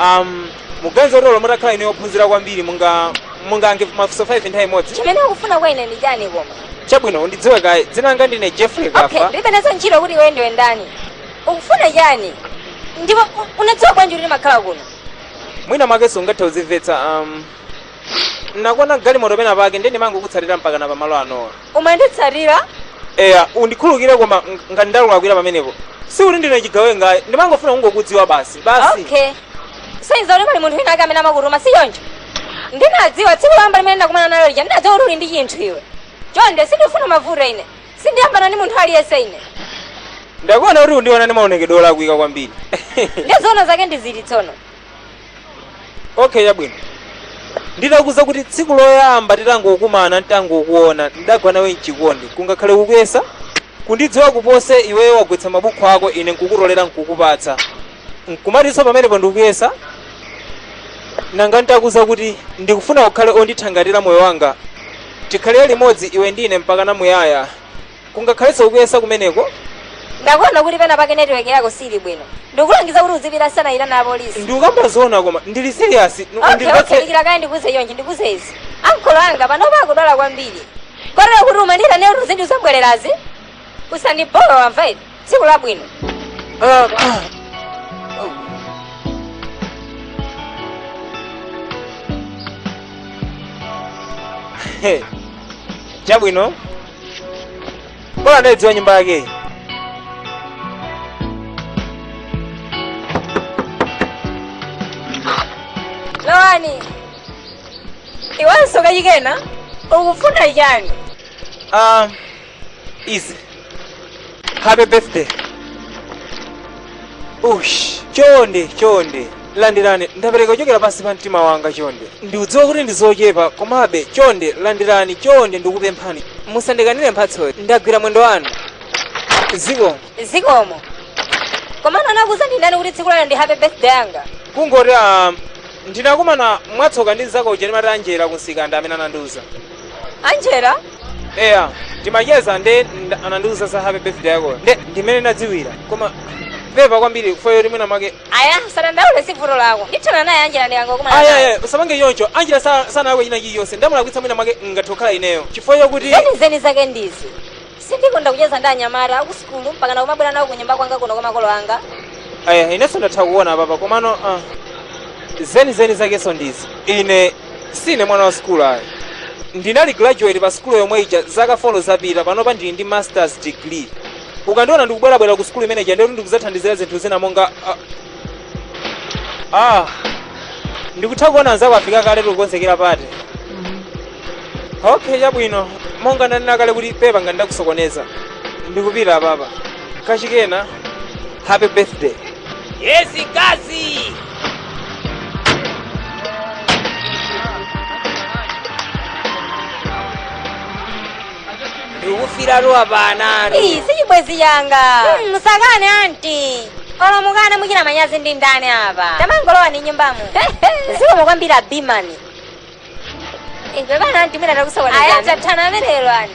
um, muganiza kuti olo mutakhala ine ophunzira kwambiri munga mungayankhe mafunso 5 nthawi imodzi chimene ukufuna kwa ine ndi chani koma chabwino undidziwe kaye dzina langa ndine jeffrey okay kafa ndilibe nazo ntchito kuti iwe ndiwe ndani ukufuna chani ndipo u- unadziwa bwanji kuti ndimakhala kuno mwina mwakenso ungathe kuzimvetsa um, Ndinakuona mgalimoto pena pake ndiye ndimangokutsatira mpakana pa malo anowa. Umanditsatira? Eya, undikhululukire koma ng- ngati ndakulakwira pamenepo. Si kuti ndine chigawenga, ndimangofuna kungokudziwa basi. Basi. Okay. Sonyeza kuti pali munthu wina ake amene amakutuma si choncho. Ndinadziwa tsiku loyamba limene ndakumana nawe lija ndinadziwa kuti uli ndi chinthu iwe. Chonde sindifuna mavuto ine. Sindiyambana ndi munthu aliyense ine. Ndakuona kuti undiona ndi maonekedwe olakwika kwambiri. Ndizoona zake ndi ziti tsono. okay chabwino nditakuuza kuti tsiku loyamba ntangokumana ntangokuona ndidagwa nawe mchikondi kungakhale kukuyesa kundidziwa kupose iweyo wagwetsa mabuku ako ine nkukutolera nkukupatsa nkumatinso pamenepo ndikuyesa nanga ntakuuza kuti ndikufuna ukhale ondithangatira moyo wanga tikhalire limodzi iwe ndine mpaka namuyaya Kungakhalenso kukuyesa kumeneko. Ndakuona kuti pena pake network yako sili bwino. Ndikulangiza kuti uzipita sanayitana apolisi. Ndikukamba zoona koma ndili serious. Nu- Okay, okay, undimvetse- dikira kaye ndikuuze chonde ndikuuze izi. Ankolo anga panopa akudwala kwambiri. Kotero kuti umandiitana ine kuti zinthu zabwererazi. Usandibowe wamva ine. Tsiku labwino. Ah, ah. Hey, Chabwino. Bora ndaidziwa nyumba yakeyi. Lowani. Iwanso kachikena ukufuna chani? Um, easy. Happy birthday. Ush, chonde, chonde. landirani ndapereka kuchokera pansi pa mtima wanga chonde ndiudziwa kuti ndi zochepa komabe chonde landirani chonde ndikupemphani musandikanire mphatsoyi ndagwira mwendo wanu zikomo zikomo komano anakuuza ndi ndani kuti tsiku lero ndi happy birthday yanga kungoti ah, ndinakumana mwatsoka ndi mzako uja ndimati anjela kumsika nde amene anandiuza anjela eya ndimacheza nde nda- anandiuza za happy birthday yakoyo nde ndimene ndadziwira koma pepa kwambiri foyo limwina mwake aya usadandaule si vuto lako ndithana naye anjela ndikangokumana naye. ayaye usapange choncho anjela sa- sanalakwe china chilichonse ndamulakwitsa mwina mwake ngathe kukhala ineyo chifukwa chakuti zenizeni zake ndizi sindikonda kucheza ndi anyamata akusukulu mpaka nakumabwera nawo kunyumba kwanga kuno kwa makolo anga aya inenso ndatha kuona papa komano ah, zenizeni zakenso ndizi ine sine mwana wa sukulu ayi ndina graduate pa sukulu yomwe ija zaka 4 zapita panopa ndili ndi masters degree ukandiona ndikubwerabwera ku sukulu imene ija ndikuti ndikudzathandizira zinthu zina monga ah, ah ndikutha kuona anzako afika kale tikukonzekera party okay chabwino monga ndanena kale kuti pepa ngati ndakusokoneza ndikupita apapa kachikena happy birthday Yes, Gazi! ndikufira luwa panano Ii, si chibwenzi changa Hmm, musakane anti olo mukane muchita manyazi ndi ndani apa tamangolowani nyumbamu zikomo kwambiri abimani inebana anti mwina takusokonezani ayi tathana amenelo ani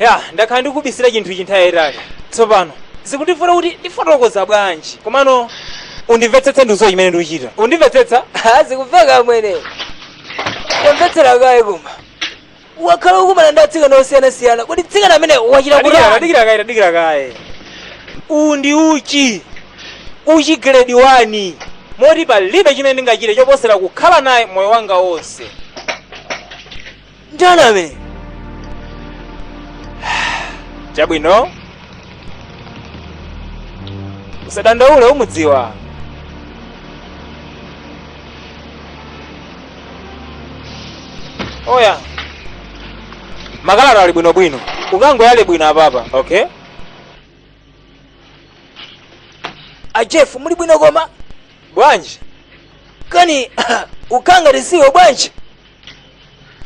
Ya, ndakhala ndikubisira chinthu ichi nthawi yayitali. Tsopano, zikundivuta kuti ndifotokoza bwanji. Komano, undimvetsetse ndikudziwa chimene ndikuchita. Undimvetsetsa? Ha, zikumveka amwene. Tamvetsera kaye koma. Wakhala ukumana ndi atsikana osiyanasiyana. Kodi mtsikana amene wachita kuti Adikira, adikira kaye, adikira kaye. Uwu ndi uchi. Uchi grade 1. Moti palibe chimene ndingachite choposera kukhala naye moyo wanga wonse. ndani amene chabwino usadandaule umudziwa oya makalata ali bwinobwino ukangoyala bwino apapa okay a jeff muli bwino koma bwanji kani ukanga lisiwo bwanji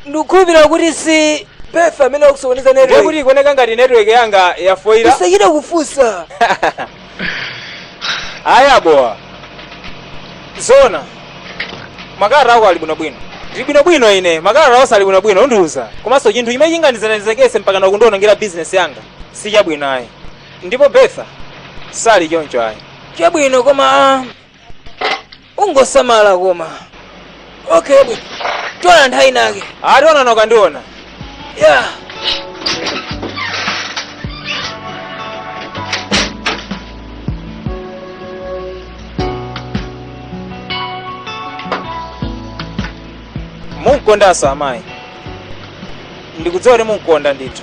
ndikukhulupirira kuti si betha amene akusokoneza ndiye kuti network ikuoneka ngati network yanga yafoila usachite kufunsa ayi abowa zona makalata ako ali bwinobwino ndili bwinobwino ine makalata onse ali bwinobwino undiuza komanso chinthu chimene chingandichititse mpakana kundionongera bizinesi yanga si chabwino ayi ndipo betha sali choncho ayi chabwino koma ah, ungosamala koma okay bwino tionana nthawi inake aa tionana ukandiona yeah munkondanso amayi ndikudziwa kuti munkonda ndithu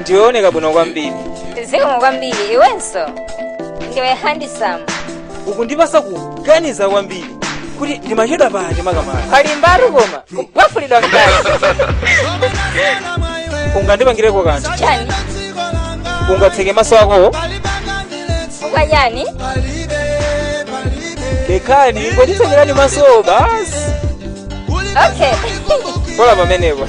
ndiwooneka bwino kwambiri zikomo kwambiri iwenso ndiwe handisamu ukundipasa kuganiza kwambiri kuti ndimachedwa pani makamaka pali mbaru koma kupafulidwa mkazi ungandipangireko kanthu chani ungatseke maso akowo ukakana lekani ndikutsekereni masowo basi okay pola pamenepo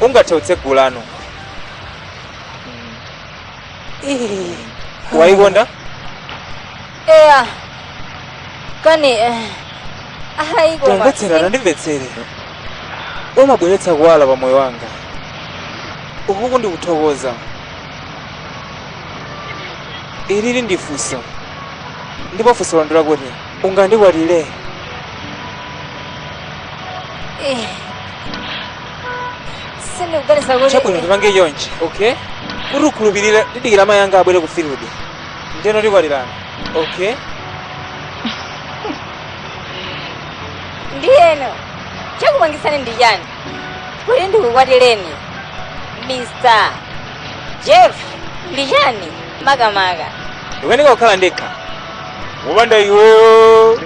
ungathe kutsegula tsopano Ih, wayikonda eya kani eh, ayi koma tamvetserana ndimvetsere umabweretsa kuwala pa moyo wanga ukuku ndikuthokoza ilili ndi funso ndipo funso londera kuti ungandikwatire Eh. Sindikuganiza kuti chabwino tipange chonchi okay kuti ukhulupirire tidikire amayi anga abwere ku field ndeno tikwatirana okay ndiyeno chakupangisani ndi chani kuti ndikukwatireni mr jeff ndi chani makamaka. Ndikukanika kukhala ndekha. Wopanda iweyo.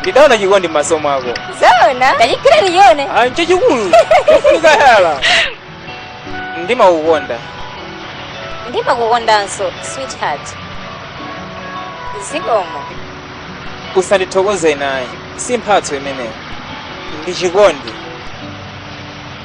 Ndidaona chikondi m'maso mwako. Zoona? Tandiyandikira ndichione. Ah, nchachikulu. Kufunika yala. Ndimakukonda. Ndimakukondanso, sweetheart. Zikomo. Usandithokoze ine ayi. Si mphatso imeneyi. Ndi chikondi.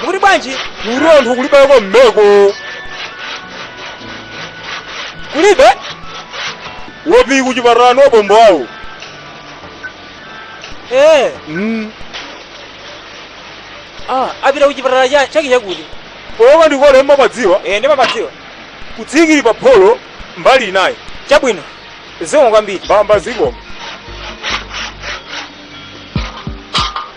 mukuti bwanji kuli anthu kulibeko mmeko kulibe wopi kuchipatala ndi abambo awo ee mm. ah, apita kuchipatala cha- chake chakuti oka ndikole mmapadziwa ee ndimapadziwa kutsikira pa pholo mbali inayo chabwino zikomo kwambiri mbamba zikomo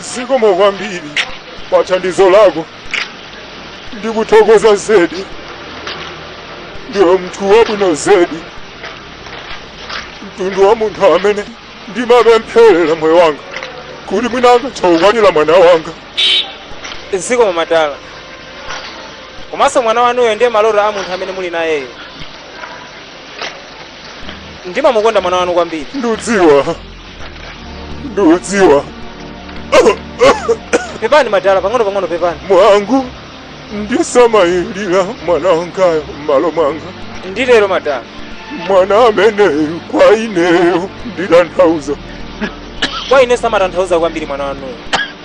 Zikomo kwambiri pa thandizo lako. Ndikuthokoza zedi. Ndiwe munthu wabwino zedi. Mtundu wa munthu amene ndimapempherera moyo wanga kuti mwina angathe kukwatira mwana wanga. Zikomo madala. Komanso mwana wanuyo ndiye maloto a munthu amene muli nayeyo. Ndimamukonda mwana wanu kwambiri. Ndudziwa ndudziwa pepani madala pang'ono pang'ono pepani mwanangu undisamalire mwana wangayo m'malo mwanga nditero madala mwana ameneyu kwa ineyo nditanthauza kwa ine amatanthauza kwambiri mwana wanuyo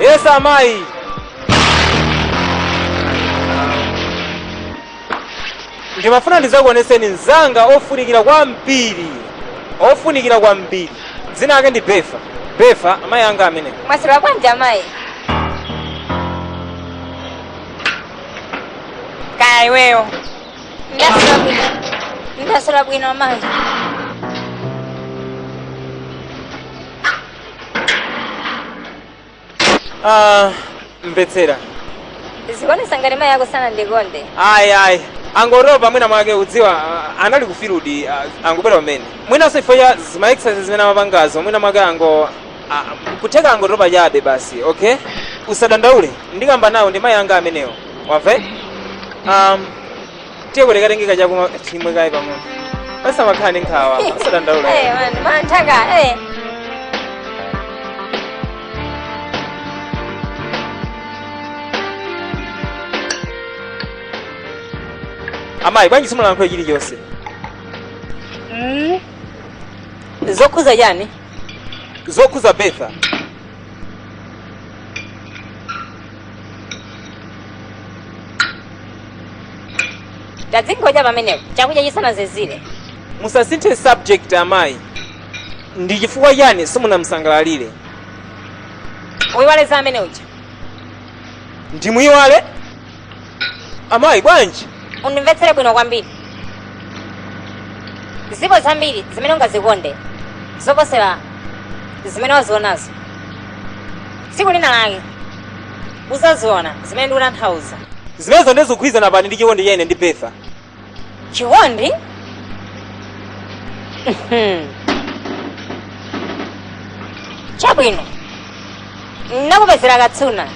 Yes, amayi. Ndimafuna ndizakuoneseni mzanga ofunikira kwambiri. Ofunikira kwambiri. Dzina lake ndi Befa. Befa, amayi anga amenewa. Mwaswera bwanji amayi? kaya iweyo ndasula bwino ndasula bwino mayi Ah, mvetsera zikuonesa ngati mayi ako sana ndikonde ayi ayi angoropa mwina mwake udziwa ah, anali kufirudi ah, angobwera pamene mwinanso ifo ya zima exercise zimene amapangazo mwina mwake ango Aa, n'kutheka angotopa chabe basi okay usadandaule ndikamba nawo ndi mayi anga amenewo wamve um, tiye kuti katengeka chakuma chimwe kaye pang'ono pasamakhala ndi nkhawa usadandaule Eh, man, man, taka, eh. amayi bwanji simulankhule chilichonse Mm. Zokuza yani? zokhuza betha tadzingocha pamenepo chakudya chisanazizire musasinthe subject amayi ndi chifukwa chani simunamsangalalire uyiwaleza amene uja ndimuyiwale amayi bwanji undimvetsere bwino kwambiri zipo zambiri zimene ungazikonde zoposera zimene wazionazo tsiku lina lake uzaziona zimene ndikutanthauza zimenezo ndizikugwirizana pati ndi chikondi cha ine ndi betha chikondi Mhm. chabwino ndakupezera katsuna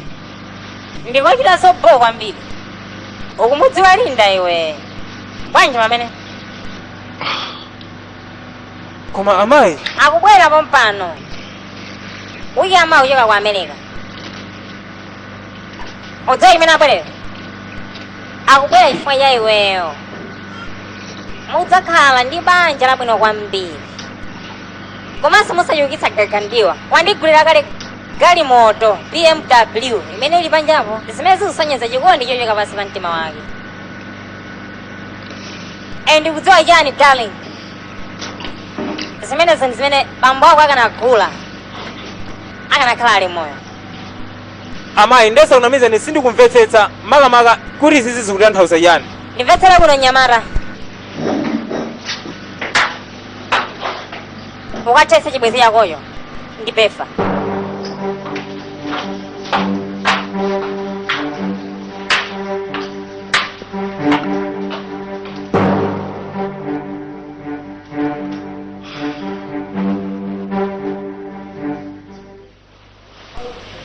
ndikochita sobho kwambiri ukumudziwa linda iwe bwanji pamene koma amayi akubwera pompano uyi amayi uchoka ku america udziwa chimene abwerera akubwera chifukwa cha iweyo mudzakhala ndi banja labwino kwambiri komanso musachulukitsa gagandiwa wandigulira kale galimoto bmw imene ili panjapo zimene zikusonyeza chikondi chochokera pansi pa mtima wake and ndikudziwa chani darling zimenezo ndi zimene bambo ako akanagula akanakhala ali moyo Amayi, ndesakunamizeni sindikumvetsetsa makamaka kuti izizi zikutanthauza chiyani. Ndimvetsere kuno mnyamata. Ukathetse chibwenzi chakoyo ndi pefa.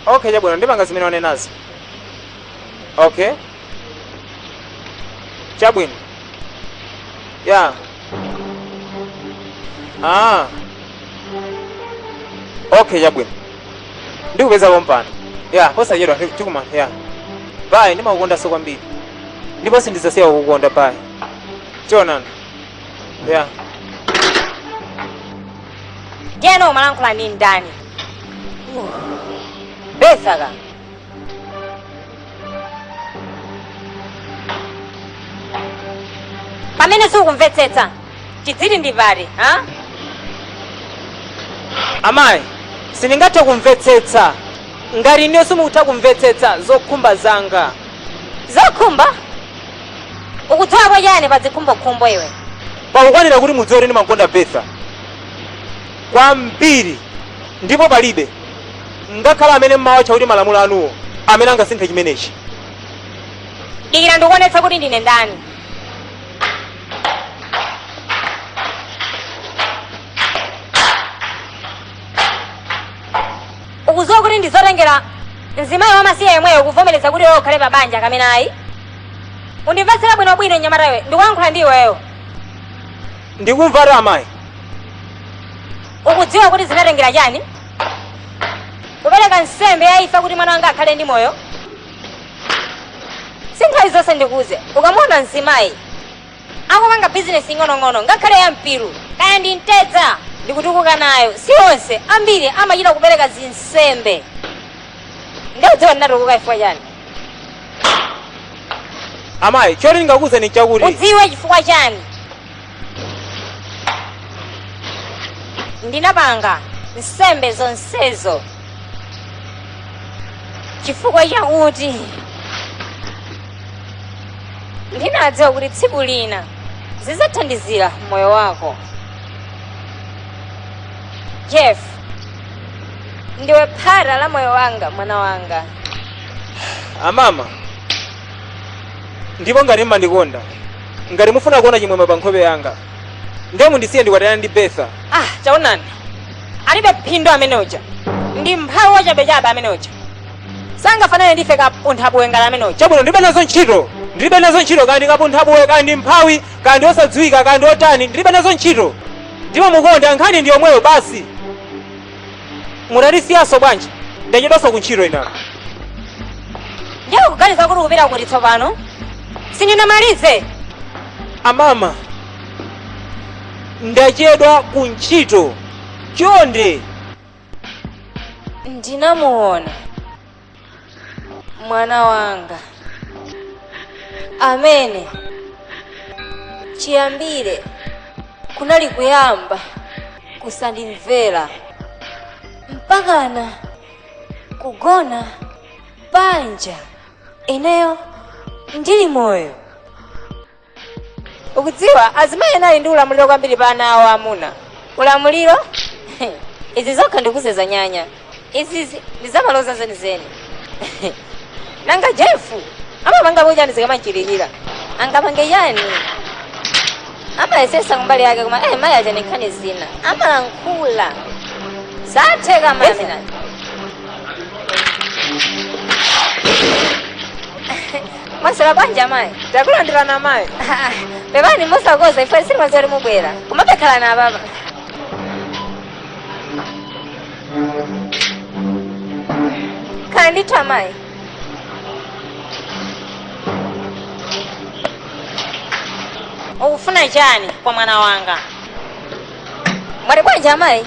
okay chabwino ndipanga zimene wanenazi okay chabwino ya ah okay chabwino ndikupeza pompano ya posachedwa tikuma ya bayi ndimakukondanso kwambiri ndipo sindizasiya kukukonda bayi tionana ya ndiyeno umalankhula ndi ndani betha ka pamene sukumvetsetsa tidziti ndi pati ha amayi sindingathe kumvetsetsa ngati inu simukutha kumvetsetsa zokhumba zanga zokhumba ukudziwapo chani pa zikhumbokhumbo iwe pakukwanira kuti mudziwe kuti ndimamkonda betha kwambiri ndipo palibe ngakhale amene mmawatcha kuti malamulo anuwo amene angasinthe chimenechi dikira ndikuonetsa kuti ndine ndani ukudziwa kuti ndizotengera mzimayi wamasiye yemweyo kuvomereza kuti iwe ukhale pa banja kapena ayi Undimvetsere bwinobwino mnyamata iwe, ndikuyankhula ndi iweyo. Ndikumvatu amayi. Ukudziwa kuti zinatengera chani? Kupereka nsembe ya imfa kuti mwana wanga akhale ndi moyo? Si nthawi zonse ndikuuze, ukamuona mzimayi akupanga bizinesi ing'onong'ono ngakhale ya mpiru kaya ndi mtedza ndikutukuka nayo, si onse ambiri amachita kupereka zinsembe. Nde ukudziwa ndinatukuka chifukwa chani? amayi choti ndingakuuzeni nchakuti ukudziwa chifukwa chani ndinapanga nsembe zonsezo chifukwa chakuti ndinadziwa kuti tsiku lina zidzathandizira moyo wako jeff ndiwe phata la moyo wanga mwana wanga amama ndipo ngati mmandikonda ngati mufuna kuona chimwemwe pa nkhope yanga ndiye mundisiye ndikwatirane ndi betha ah taonani alibe phindu amene uja ndi mphawi wachabechabe amene uja sangafanane ndife kapunthabuwe ngati amene uja chabwino ndilibe nazo ntchito ndilibe nazo ntchito kaya ndi kapunthabuwe kaya ndi mphawi kaya ndi osadziwika kaya ndi otani ndilibe nazo ntchito ndipo mukonda nkhani ndi yomweyo basi mutatisiyanso bwanji ndachedwanso kuntchito inayo ndiye kuganiza kuti kupita kuti tsopano sindinamalize amama ndachedwa ku ntchito chonde ndinamuona mwana wanga amene chiyambire kunali kuyamba kusandimvera mpakana kugona panja ineyo ndili moyo ukudziwa azimayi ali ndi ulamuliro kwambiri pa ana awo amuna ulamuliro izi zokha ndi zowonjeza nyanya izi zi- ndi zamaloza zenizeni nanga jefu amapanga po chani zikamapitirira angapange chani amayesetsa kumbali yake koma eh, mayi achani nkhani zina amalankhula zatheka mamina mwaswera bwanji amayi takulandirani amayi pepani mosakonza ife sitimadziwa kuti mubwera kuma pokhalani apapa khalani ndithu amayi ukufuna chani kwa mwana wanga mwati bwanji amayi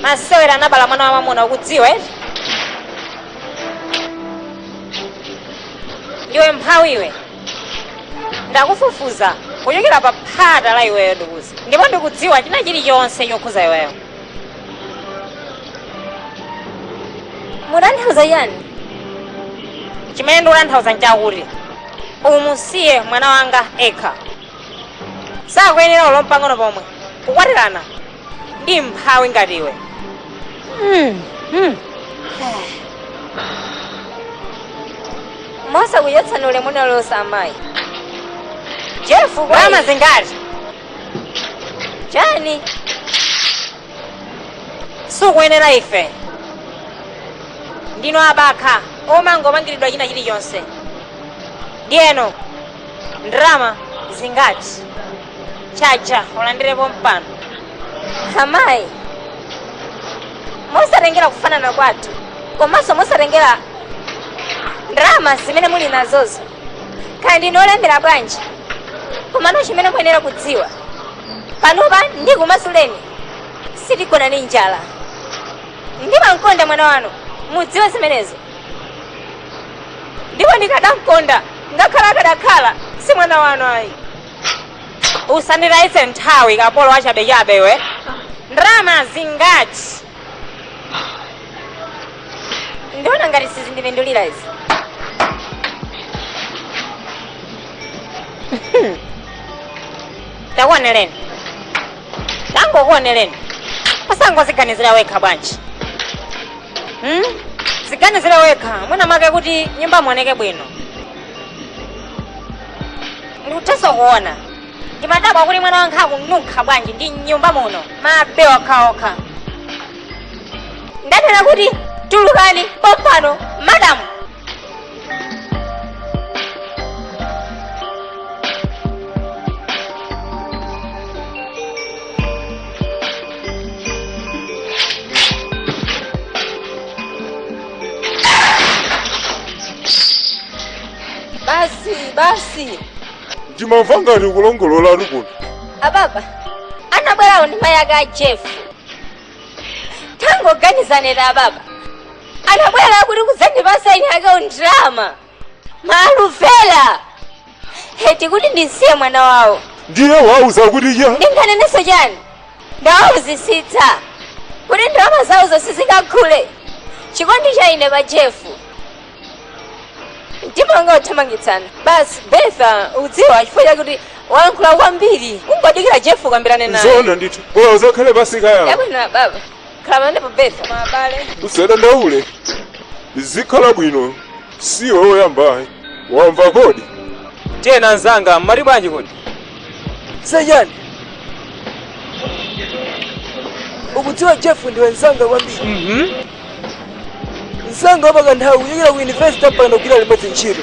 masewera anabala mwana wa mamuna ukudziwa eti ndiwe mphawi iwe ndakufufuza kuchokera pa phata la iweyo ndikuzi ndipo ndikudziwa china chilichonse chokhudza iweyo mukutanthauza chiyani chimene ndikutanthauza nchakuti umusiye mwana wanga yekha sakuyenera olo mpang'ono pomwe kukwatirana ndi mphawi ngati iwe mosakuchotsani ulemu mwalakwitsa amayi jefu bwera zingati chani sukuyenera ife ndinu abakha omangopangiridwa china chilichonse ndiyeno ndrama zingati tchaja ulandire pompano amayi mosatengera kufanana kwathu komanso mosatengera ndalama zimene muli nazozo kaya ndinu olemera bwanji komano chimene muyenera kudziwa panopa ndikumasuleni sitigona ndi njala ndimamkonda mwana wanu mudziwe zimenezo ndipo ndikadamkonda ngakhale akadakhala si mwana wanu ayi usanditayitse nthawi kapolo wachabechabe iwe ndalama zingati ndiona ngati sizindipindulira izi takuoneleni tangokuoneleni osangoziganizira wekha bwanji hmm? ziganizire wekha mwinamwake kuti nyumba muoneke bwino ndikuthanso kuona ndimadabwa kuti mwana wanga akununkha bwanji ndi mnyumba muno mabi okhaokha ndanena kuti tulukani pompano madamu basi basi ndimvereni ngati kulongolola ali kuno ababa anabwera kuno ndi mayi ake a jeff tangoganizani ababa anabwera kuti kudzandipasa ine ndalama Maluvera! Eti kuti ndisiye mwana wawo. Ndiye unawauza kuti chani. Ndinganenenso chani? Ndawauzisitsa kuti ndalama zawo zonse sizingagule chikondi cha ine pa Jeff. Mtima wanga ukuthamangitsana. Basi Bertha udziwa chifukwa chakuti walankhula kwambiri. Ungodikira Jeff ukambirane naye. Zoona ndithu. Koma uzakhale pasika yawo. Chabwino ababa. khalani pa bed koma abale usadandaule zikhala bwino si iwe woyamba ayi wamva kodi tiyeni anzanga mmati bwanji kodi sejani ukudziwa jeff ndi mnzanga kwambiri mnzanga wapakanthawi kuchokera ku university mpaka pano tikugwira limodzi ntchito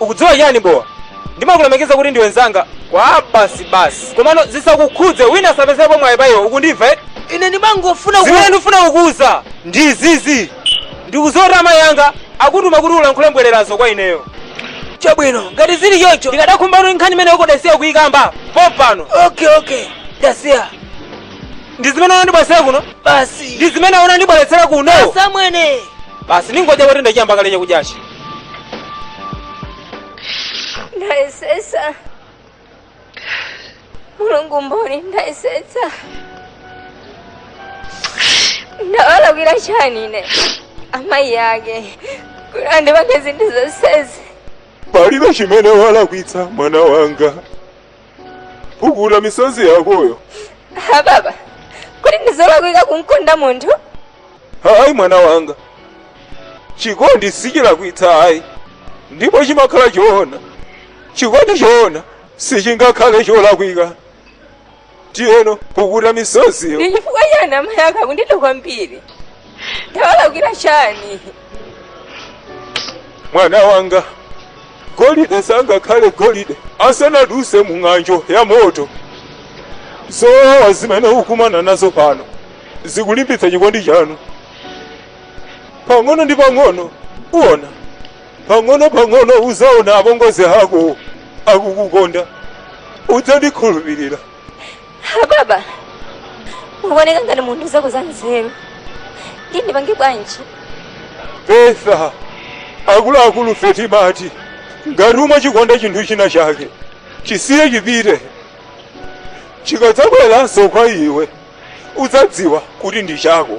ukudziwa chani bowa ndimakulemekeza kuti ndiwe nzanga kwa basi basi komano zisakukhudze wina asapezerepo mwayi pa iwe ukundimva eti ine ndimangofuna ku- zimene ndifuna kukuwuza ndi zizi ndikudziwa kuti amayi anga akutuma kuti ulankhule mbwererazo kwa ineyo chabwino ngati zili choncho ndikadakonda kuti nkhani imene ukadasiya kuyikamba pompano okay okay ndasiya ndi zimene unandibweretsera kuno basi ndi zimene unandibweretsera kuno achimwene basi ndingodya kuti ndachiyamba kale chakudyachi Ndayesetsa. Mulungu mboni ndayesetsa. Ndawalakwira chani ine. Amayi ake. Kuti andipange zinthu zonsezi. palibe chimene walakwitsa mwana wanga pukuta misozi yakoyo Ha, baba kodi ndizolakwika kumkonda munthu ayi mwana wanga chikondi sichilakwitsa ayi ndipo chimakhala choona chikondi choona sichingakhale cholakwika ndiyeno pukuta misoziyo ndi chifukwa chani amayi ake akundida kwambiri ndawalakwira chani mwana wanga golide sangakhale golide asanaduse mu ng'anjo ya moto zowawa zimene mukumana nazo pano zikulimbitsa chikondi chanu pang'ono ndi pang'ono uona Pang'ono pang'ono uzaona apongozi ako akukukonda. Udzandikhulupirira. Ha, baba mukuoneka ngati munthu wodzadza nzeru ndiye ndipange bwanji Betha, akuluakulu fe timati ngati umachikonda chinthu china chake chisiye chipite chikadzabweranso kwa iwe udzadziwa kuti ndi chako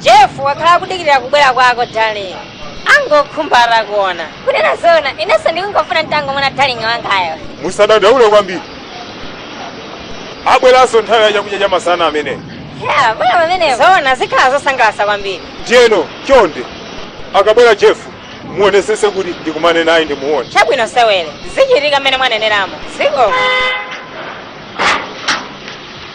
jeff wakhala akudikirira kubwera kwako darling angokhumba atakuona kunena zona inenso ndikungofuna nditangomona darling wangayo musadandaule kwambiri abweranso nthawi ya chakudya cha masana ameneyo abwera pamenepo zona zikhala zosangalatsa kwambiri ndiyeno chonde akabwera jeff muonesese kuti ndikumane naye ndimuone chabwino sewere zichitika mmene mwaneneramo ziko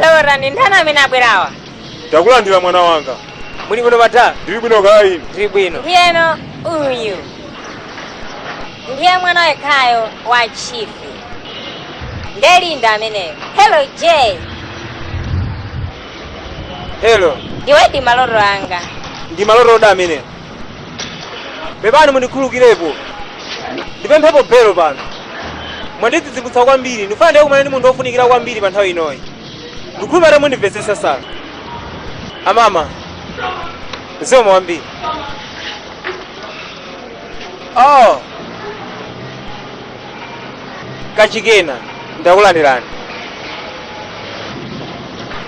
Laura, ndi ndani amene abwerawa? Ndakulandira mwana wanga. Muli bwino madam? Ndili bwino kaya inu. Ndili bwino. Ndiyeno uyu ndiye mwana wekhayo wa chief. Ndiye Linda ameneyo. Hello Jay, Hello. ndiwedi maloto anga. Ndi maloto otani amene. pepani mundikhulukirepo ndipemphepo belo pano mwandidzidzimutsa kwambiri ndikufuna ndikakumane ndi munthu wofunikira kwambiri pa nthawi inoyi ndikhulupirira mundimvetsetsa sana amama zikomo kwambiri oh kachikena ndakulandirani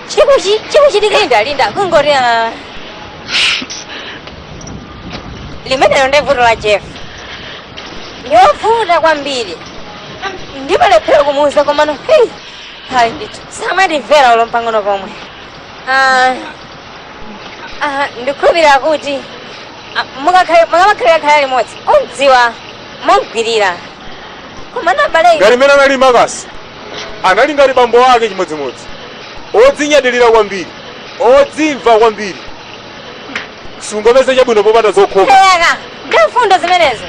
chikuchi chikuchitika linda linda kungoti limenelo ndi vuto la jeff ndiwovuta kwambiri ndimalephera kumuuza komano hei hayi ndithu samatimvera olo mpang'ono pomwe Ah, ah, ndikhulupirira kuti ah, mukakhale- mukamakhalira khala limodzi mumdziwa mumgwirira komano abale ngati mmene anali makasi anali ngati bambo ake chimodzimodzi odzinyadilira kwambiri odzimva kwambiri. Sungomva zabwino popanda zokhoma. Eya, ndi mfundo zimenezo.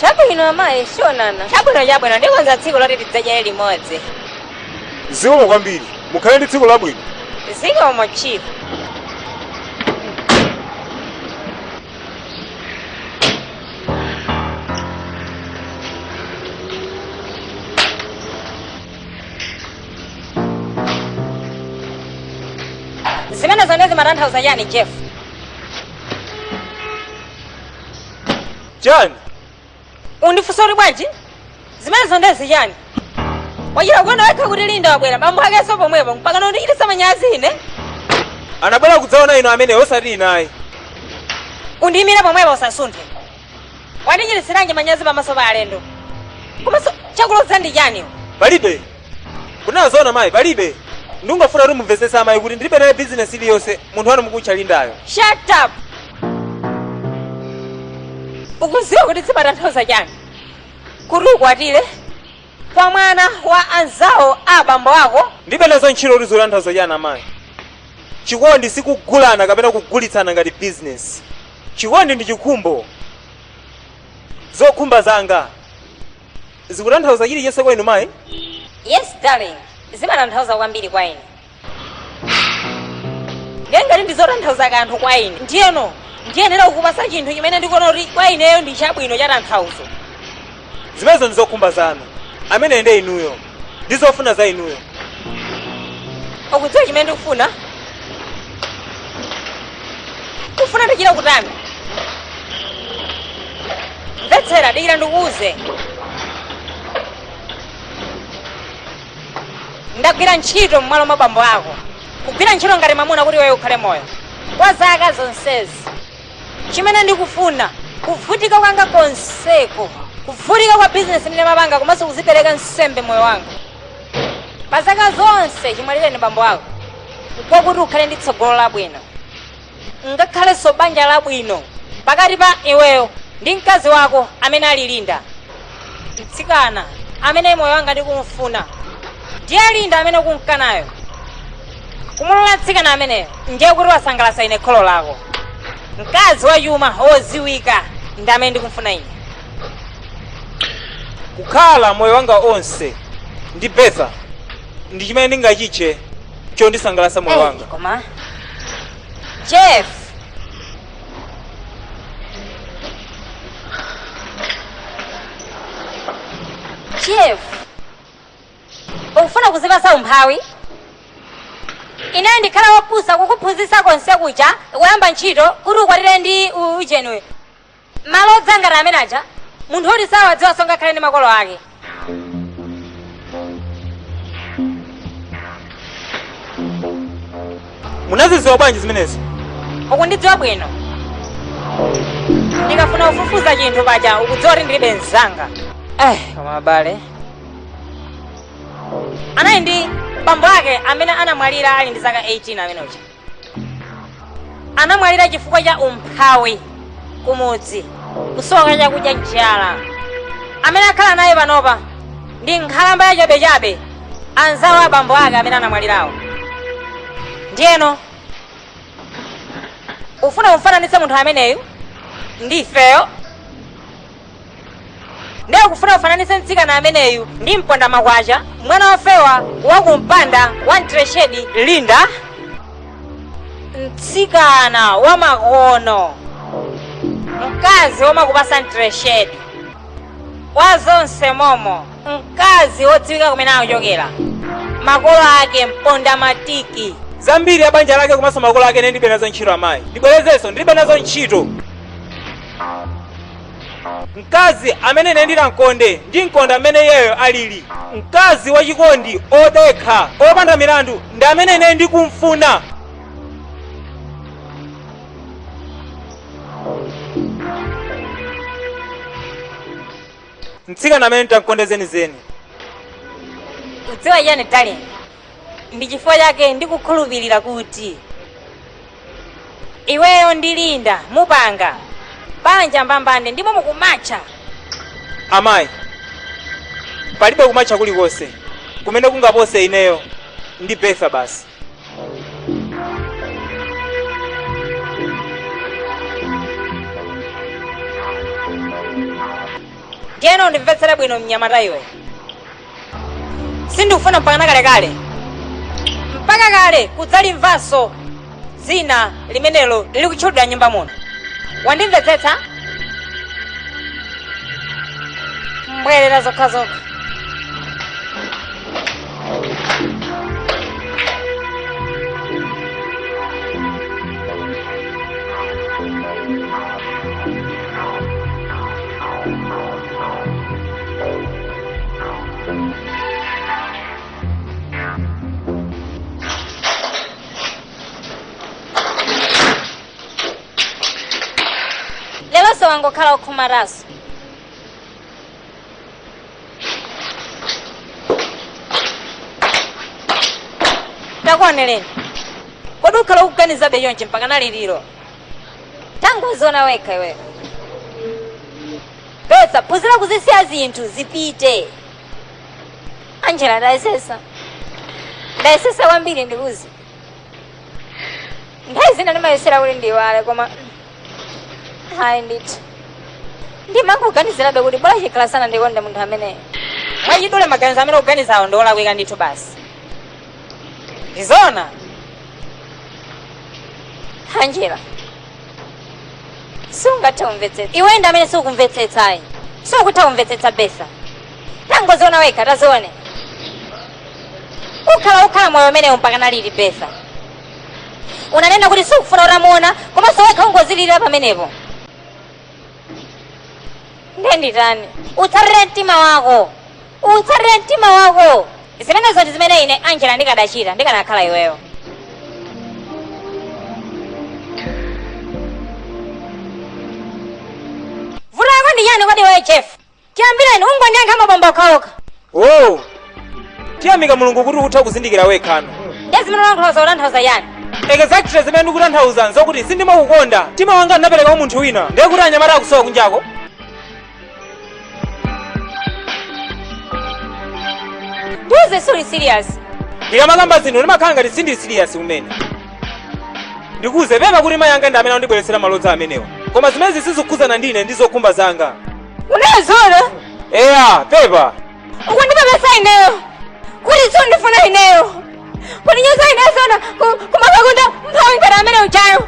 Chabwino amayi, sionana. Chabwino chabwino, ndikonza tsiku loti tidzadyere limodzi. Zikomo kwambiri. Mukhale ndi tsiku labwino. Zikomo chief. zimene zonsezi zimatanthauza chani jeff chani ukundifunsa kuti bwanji zimene zonsezi chani wachita kuona kwake kuti linda wabwera ndi bambo akenso pomwepo mpaka kundichitisa manyazi ine anabwera kudzaona inu amayi osati ine ayi undiyimire pomwepo usasunthe wandichititsiranji manyazi pamaso pa alendo komanso chakuloza ndi chani palibe kunena zoona mayi palibe ndikungofuna kuti mumvetsetse amayi kuti ndilibe naye bizinesi iliyonse munthu wanu mukutcha lindayo shut up ukuziwa kuti zimatanthauza chani kuti ukwatire kwa mwana wa anzawo a abambo ako ndilibe nazo ntchito kuti zitanthauza chani amayi chikondi sikugulana kapena kugulitsana ngati bizinesi Chikondi ndi chikhumbo. Zokhumba zanga zikutanthauza chilichonse kwa inu mayi? Yes, darling. Zimatanthauza kwambiri kwa ine. Ndiye ngati ndizotanthauza kanthu kwa ine. Ndiyeno, ndiyenera kukupasa chinthu chimene ndikuona kuti kwa ineyo ndi chabwino chatanthauzo. Zimenezo ndi zokhumba zanu. Ameneyo ndiye inuyo. Ndi zofuna za inuyo. Ukudziwa chimene ndikufuna? Kufuna ndichita kutani? Mvetsera, dikira ndikuuze. Ndagwira ntchito m'malo mwa bambo ako. Kugwira ntchito ngati mwamuna kuti iweyo ukhale moyo. Kwa zaka zonsezi. chimene ndikufuna, kuvutika kwanga konseko, kuvutika kwa bizinesi imene ndimapanga komanso kuzipereka nsembe moyo wanga pa zaka zonse chimwalireni bambo ako nkoti ukhale ndi tsogolo labwino ukhalenso banja labwino pakati pa iweyo ndi mkazi wako amene ali linda mtsikana amene moyo wanga ndikumufuna ndiye linda amene ukumkanayo kumulola mtsikana ameneyo ndiye kuti wasangalasa ine kholo lako mkazi wachuma woziwika ndi amene ndikumfuna ineyo kukhala moyo wanga wonse ndi betha ndi chimene ndingachitche chondisangalasa moyo wanga koma jeff Jeff, ukufuna kuzipasa umphawi? Ine ndikhala wopusa kukuphunzitsa konse kuja kuyamba ntchito kuti ukwatire ndi u- ujeni, malo odzangana amene aja, munthu woti sawadziwanso ngakhale ndi makolo ake. munaziziwa bwanji zimenezi ukundidziwa bwino ndikafuna kufufuza chinthu paja ukudziwa kuti alibe mzanga eh koma abale anali ndi bambo ake amene anamwalira ali ndi zaka 18 amene uja anamwalira chifukwa cha umphawi kumudzi kusowa kwa chakudya njala amene akhala naye panopa ndi nkhalamba yachabechabe anzawo abambo ake amene anamwalirawo ndiyeno ufuna umfananitse munthu ameneyu ndi ifeyo ndiye ukufuna ufananitse mtsikana ameneyu ndi mponda makwacha mwana wofewa wa kumpanda wa mtreshedi linda mtsikana wa makono mkazi womakupasa mtreshedi kwa zonse momo mkazi wodziwika kumene akuchokera makolo ake mponda matiki zambiri za banja lake komanso makolo ake ine ndilibe nazo ntchito amayi ndibwerezenso ndilibe nazo ntchito Mkazi amene ine ndidamkonda, ndimkonda m'mene iyeyo aliri. Mkazi wachikondi, odekha, opanda milandu, ndi amene ine ndikumfuna. Mtsikana amene nditamkonde zenizeni. Udziwa chani darling? Ndi chifukwa chake ndikukhulupirira kuti iweyo ndi Linda mupanga banja mbambande ndipo mukumatcha. Amayi, palibe kumatcha kulikonse kumene kungapose ineyo ndi Bertha basi. Ndiyeno undimvetsere bwino mnyamata iwe. sindikufuna mpakana kalekale mpaka kale kudzalimvanso dzina limenelo lili kutchulidwa nyumba muno wandimvetsetsa mbwerera zokhazokha leronso wangokhala okhumata so takuoneni kodi ukhala ukuganizabe chonchi mpaka naliti tangoziona wekha iweyo Mvetsa, phunzira kuzisiya zinthu zipite. Angela, ndayesesa. Ndayesetsa kwambiri ndikuuze. Nthawi zina ndimayesera kuti ndiiwale koma hayi ndithu. Ndimangoganizirabe kuti bola chikhala sindinakonde munthu ameneyo. Mwachidule maganizo amene ukuganizawo ndi olakwika ndithu basi. Ndizona. Angela, sungathe kumvetsetsa iwe ndi amene sukumvetsetsa ayi sukutha kumvetsetsa besa tangoziona wekha tazione ukhala ukhala moyo umenewu mpaka naliti besa unanena kuti sukufuna utamuona komanso wekha ungozililira pamenepo nde nditani utsatire mtima wako Utsatire mtima wakowo. Zimenezo ndi zimene ine Angela ndikadachita ndikanakhala iweyo. Vuto lako ndi chani kodi iweyo Jeff? Chiyambireni ungondiyankha mabomba okhaokha. Oh, tiyamika mulungu kuti ukutha kuzindikira wekhano. Ndiye zimene ulankhulazo ukutanthauza chani? Exactly zimene ndikutanthauza nzokuti sindimakukonda. Mtima wanga ndinapereka kwa munthu wina. Ndiye kuti anyamata akusowa kunjako. ndiuze suli serious ndikamakamba zinthu ndimakhala ngati sindili serious kumene ndikuuze pepa kuti mayi anga ndi amene andibweretsera malodza amenewa koma zimenezi sizikukhudzana ndine ndi zokhumba zanga unazo zona eya pepa ukundipepesa ineyo kuti sundifuna ineyo kundinyoza ineyo zoona kumakakonda mphawi ngati amene ujayo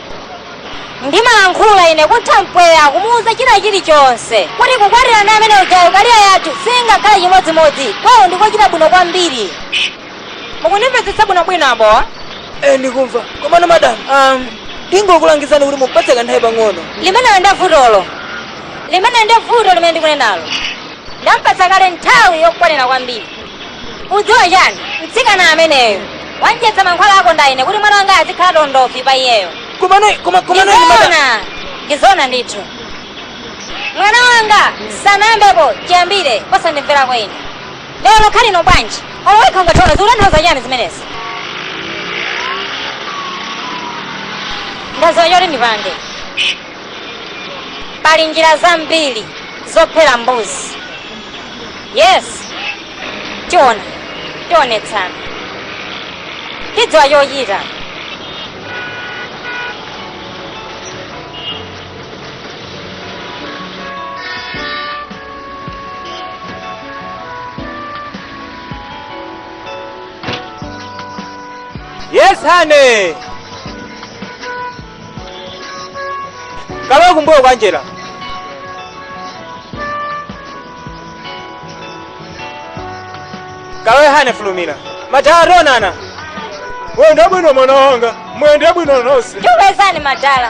Ndimalankhula ine kutha mpweya kumuuza china chili chonse kuti kukwatirana ndi amene ujayo career yako siingakhale chimodzimodzi kwawo ndikochita bwino kwambiri mukundimvetsetsa bwino bwino apapa Eh, ndikumva komano madam um, ndingokulangizani kuti mupatse kanthawi pang'ono limenelo ndi vutolo limene ndi vuto limene ndikunenalo ndamupatsa kale nthawi yokwanira kwambiri Udziwa chani? Mtsikana ameneyu wamudyetsa mankhwala a kondaine kuti mwana wanga azikhala tondovi pa iyeyo. Komano koma komano ine madam. Ndizona, ndizona ndithu. Mwana wanga sanayambepo chiyambire posandimvera ine. Lero lokha lino bwanji? Olo wekha ungatona zikutanthauza chani zimenezi? Ndadziwa choti ndipange. Pali njira zambiri zophera mbuzi. Yes, tiona, tionetsana. Tidziwa chochita. Yes, honey. kawele kumbuyo kwa njira kawele honey fulumira madala ationana wenda bwino mwana wanga mwende bwino nonse tikupezani madala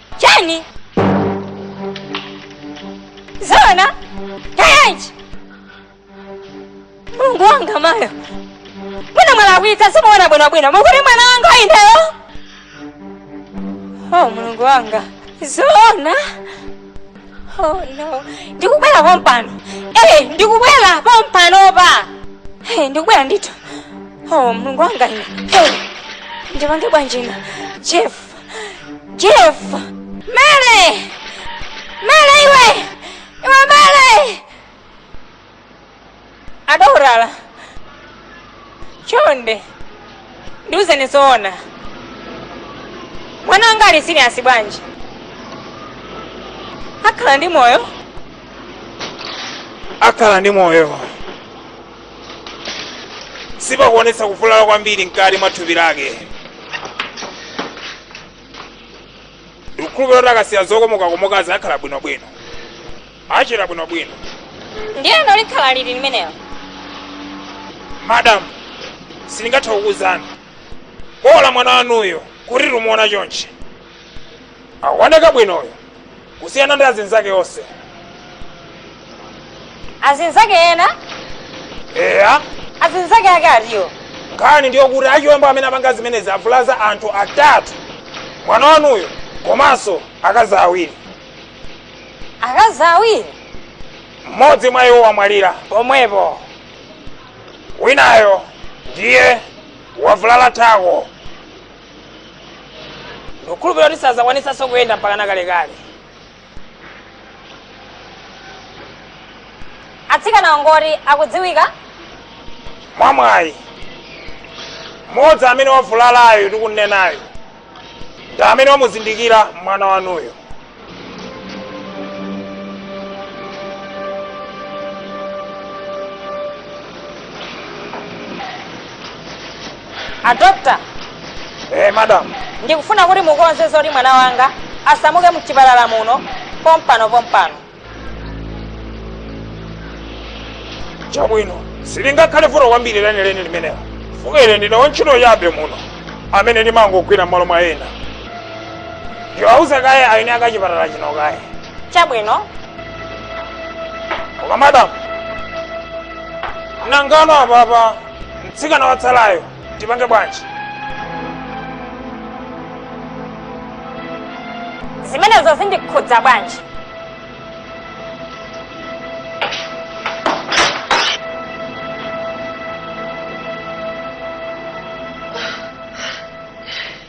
chani zoona kayanji mulungu wanga mayo mwina mwalakwika simunaone bwinobwino mukuti mwana wanga ineyo oh mulungu wanga zoona oh no ndikubwera pompano eh ndikubwera pompanopa eh ndikubwera ndithu oh mulungu wanga ine eh ndipange bwanji ine jeff Jeff! Mele! Mele iwe! Iwe Mele! Adokotala! Chonde! Ndiuzeni zoona. Mwana wanga ali serious bwanji? Akhala ndi moyo? akhala ndi moyo sipakuonetsa kuvulala kwambiri mkati mwa thupi lake ndikukhulupirira kuti akasiya zokomokakomokazi akhala bwinobwino achira bwinobwino ndiyeno likhala liti limenelo madamu sindingathe kukuwuzani bola mwana wanuyo kuti tikumuona chonchi akuoneka bwinoyo kusiyana ndi azinzake onse azinzake ena eya azinzake ake atiwo nkhani ndiyo kuti achiwembu amene apanga zimenezi avulaza anthu atatu mwana wanuyo komanso akazi awiri akazi awiri mmodzi mwa iwo wamwalira pomwepo winayo ndiye wavulala thako ndikukhulupirira kuti sadzakwanitsanso kuyenda mpaka nakalekale atsikana angoti akudziwika mwamwayi mmodzi amene wavulalayo tikunenayo ndi amene wamuzindikira mwana wanuyo a doctor. Eh, madam. ndikufuna kuti mukonze zoti mwana wanga asamuke mchipatala muno pompano pompano chabwino silingakhale vuto kwambiri lenileni limenelo chifukwa ine ndine wantchito yabe muno amene ndimangogwira m'malo mwa ena ndiwauza kaye aeni ake achipatala chino kaye chabwino koma madamu nangano apapa mtsikana watsalayo tipange bwanji zimenezo zindikhudza bwanji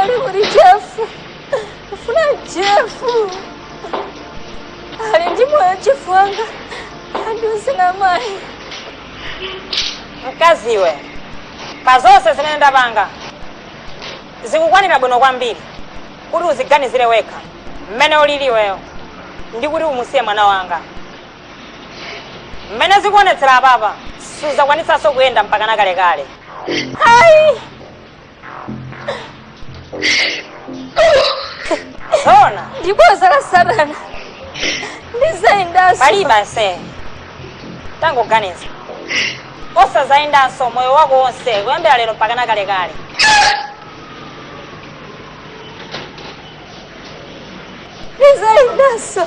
ali kuti jefu ndikufuna jefu ali ndi moyo jefu wanga tandiuzeni mayi mkaziwe pa zonse zimene ndapanga zikukwanira bwino kwambiri kuti uziganizire wekha mmene ulili iweyo ndi kuti umusiye mwana wanga mmene zikuonetsera apapa suzakwanitsanso kuyenda mpaka nakalekale ayi Zona. Ndiboza la satana. Ndizayendanso. Palibe asa. Tangoganiza. Kusazayendanso moyo wako wonse kuyambira lero mpaka na kalekale. Ndizayendanso.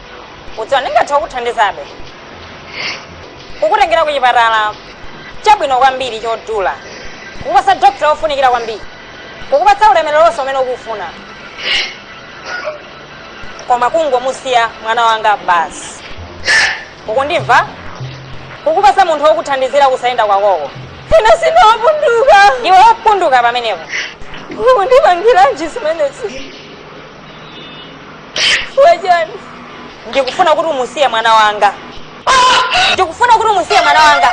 ukudziwa ndingathe kukuthandizabe kukutengera ku chipatala chabwino kwambiri chodula kukupasa dokita wofunikira kwambiri kukupatsa ulemerero wonse umene ukufuna koma kungomusiya mwana wanga basi ukundimva kukupasa munthu wokuthandizira kusayenda kwakoko ine sindine wopunduka ndiwe wopunduka pamenepo ukundipangiranji zimenezi Chifukwa chani. Ndikufuna kuti umusiye mwana wanga. Ndikufuna kuti umusiye mwana wanga.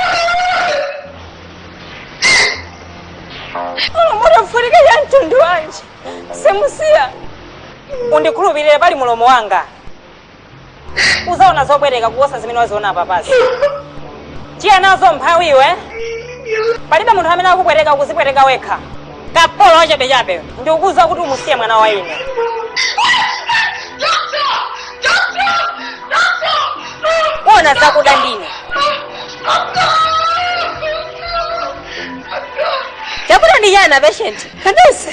Olo muvutike chamtundu wanji. Sindimusiya. Undikhulupirire pali mulomo wanga. uzaona zopweteka kuposa zimene waziona apapazi tiye nazo mphawi iwe palibe munthu amene akupweteka ukuzipweteka wekha kapolo wachabechabe ndikukuuza kuti umusiye mwana wa ine uona zakuda ndine chakuda ndi chani apeshenti Kadesi.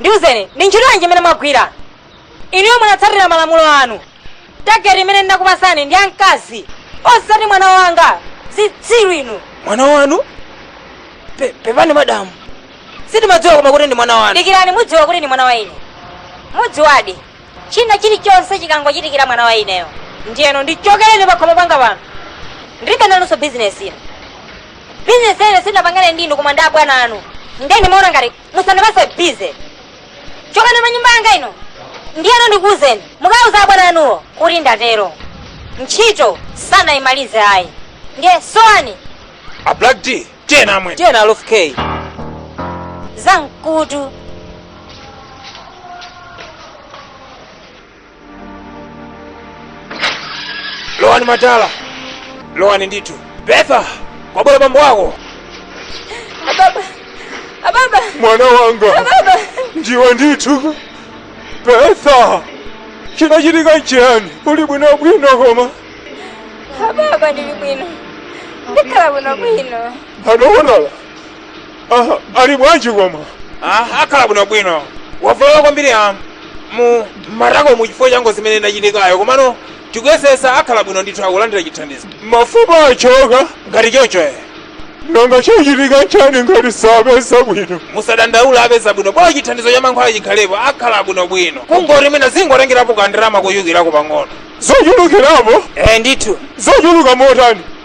ndiuzeni ndi ntchito yanji imene mwagwira inuyo munatsatira malamulo anu tageti imene ndinakupatsani ndi amkazi osati mwana wanga zitsiru inu mwana wanu Pe- pepani madamu sitimadziwa koma kuti ndi mwana wanu dikirani mudziwa kuti ndi mwana wa ine mudziwadi china chilichonse chikangochitikira mwana wa ineyo ndiyeno ndichokereni pakhomo panga pano ndilibe nanunso bizinesi ino bizinesi ine sindinapangane ndi inu koma ndi abwana anu nde ndimaona ngati musandipanse bize chokani pa nyumba yanga ino ndiyeno ndikuwuzeni mukawuze abwana anuwo kuti ndatero ntchito sanayimalize ayi ndiye sowani a black d tiye namwe tiye na lof k zamkutu lowani matala lowani ndithu betha kwabwera bambo wako ababa ababa mwana wanga ababa ndiwe ndithu betha chinachitika n'chiyani uli bwino bwino koma ababa ndili bwino ndikhala bwino bwino adokotala Aha, ali bwanji koma? Ah, akhala bwinobwino. Wavulala kwambiri ah mu matakomu chifukwa cha ngozi imene inachitikayo komano tikuyesesa akhala bwino ndithu akulandira chithandizo. Mafupa achoka ngati chocho eh. Nanga chichitika nchani ngati sapeza bwino? Musadandaula apeza bwino bola chithandizo cha mankhwala chikhalepo akhala bwinobwino. Kungoti mwina zingotengerapo kandalama kochulukirako pang'ono. Zochulukirapo? Eh ndithu. Zochuluka motani?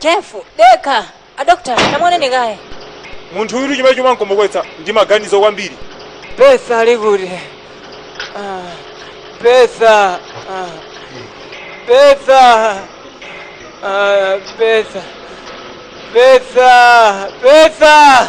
Jeff, dekha. A doctor, tamuoneni kaye. Munthu uyutu chimene chimamkomoketsa ndi maganizo kwambiri. Betha ali kuti? Ah, Betha. Ah, Betha. Ah, Betha. Betha. Betha.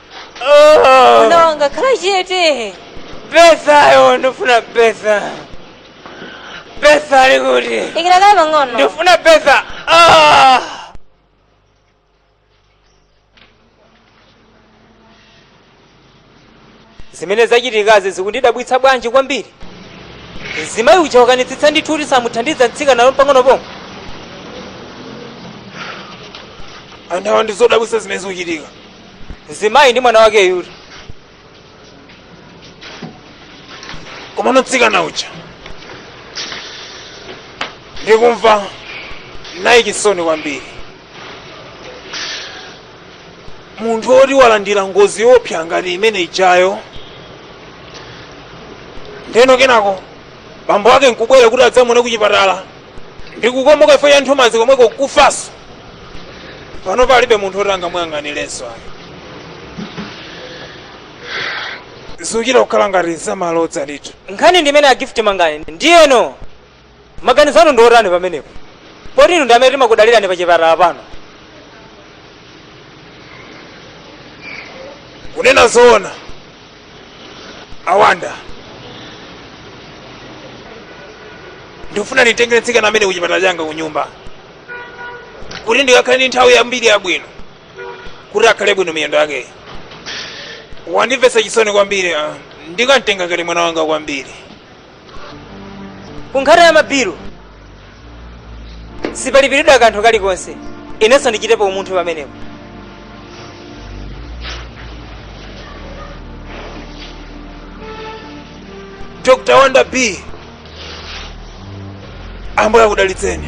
mwana wanga khala chete Bethayo ndifuna Betha Betha ali kuti dikira kaye pang'ono ndifuna Betha Ah! zimene zachitikazi zikundidabwitsa bwanji kwambiri mzimayi uja wakanitsitsa ndithu kuti samuthandiza mtsikana olo pang'ono pomwe wathawa ndizodabwitsa zimene zikuchitika mzimayi ndi mwana wake uja komano mtsikana uja ndikumva naye chisoni kwambiri munthu woti walandira ngozi yoopsa ngati imene ijayo ndeno kenako bambo ake nkubwera kuti adzamuone kuchipatala ndikukomoka chifukwa cha nthumanzi komweko nkufanso pano palibe munthu woti angamuyang'anilenso ayi zikuchita kukhala ngati zamalodza ndithu nkhani ndi imene a Gift mangani ndiyeno maganizo anu ndi otani pamenepo poti inu ndi amene timakudalirani pa chipatala pano kunena zoona awanda ndikufuna ndimtengere mtsikana ameneyu kuchipatala changa kunyumba kuti ndikakhale ndi nthawi yambiri yabwino kuti akhale bwino miyendo yake wandimvetsa chisoni kwambiri ah. ndikamtenga ngati mwana wanga kwambiri ku nkhani ya mabilu sipalipiridwa kanthu kalikonse inenso ndichitepo umunthu pamenepo dr wanda b ambuye akudalitseni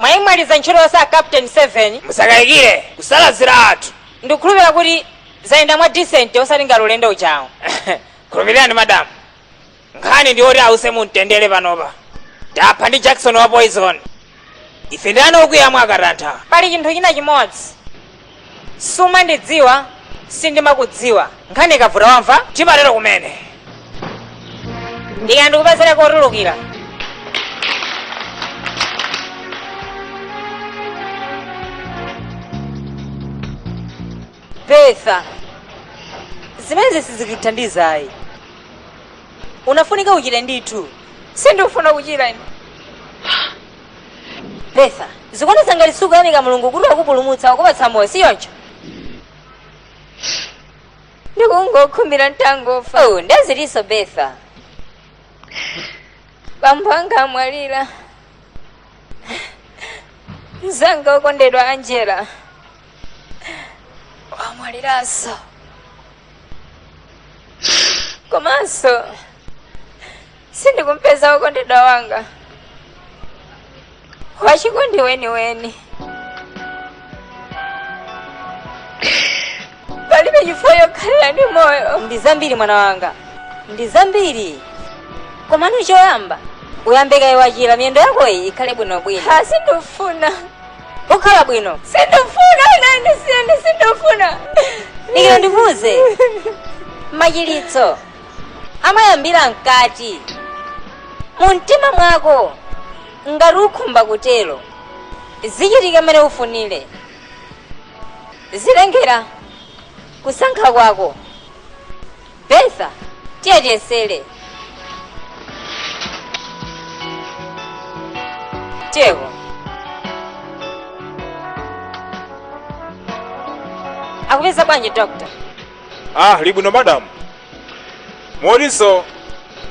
mwayimaliza ntchito yonse a captain 7 musakayikire tasalaziratu ndikukhulupirira kuti zayenda mwa decent osati ngati ulendo ujawu khulupirirani madamu nkhani ndi yoti ause mumtendere panopa tapha ndi jakisoni wa poison ife ndi ana okuya mwakatantha pali chinthu china chimodzi sumandidziwa sindimakudziwa nkhani ikavuta wamva chimatero kumene ndikanakupezera kotulukira Bertha, zimenezi sizikuthandiza ayi. Ukufunika uchire ndithu. Sindikufuna kuchira ine. Bertha, zikuonetsa ngati sukuyamika Mulungu kuti wakupulumutsa wakupatsa moyo, si choncho? Ndikungokhumbira nditangofa. Oh, ndi zitinso Bertha. Bambo anga amwalira. Mzanga wokondedwa Angela. wamwaliranso komanso sindikumpeza wokondedwa wanga wachikondi weniweni palibe chifukwa chokhalira ndi moyo ndi zambiri mwana wanga ndi zambiri komano choyamba uyambe kaye wachira miyendo yakoyi ikhale bwinobwino ah sindifuna okhala bwino sindifuna ine ndisiyeni sindifuna dikira ndikuuze machiritso amayambira mkati mu mtima mwako ngati ukhumba kutero zichitika mmene ufunire zitengera kusankha kwako Bertha, tiye tiyesere. Tiyeko. Akupeza bwanji doctor? ali bwino madamu motinso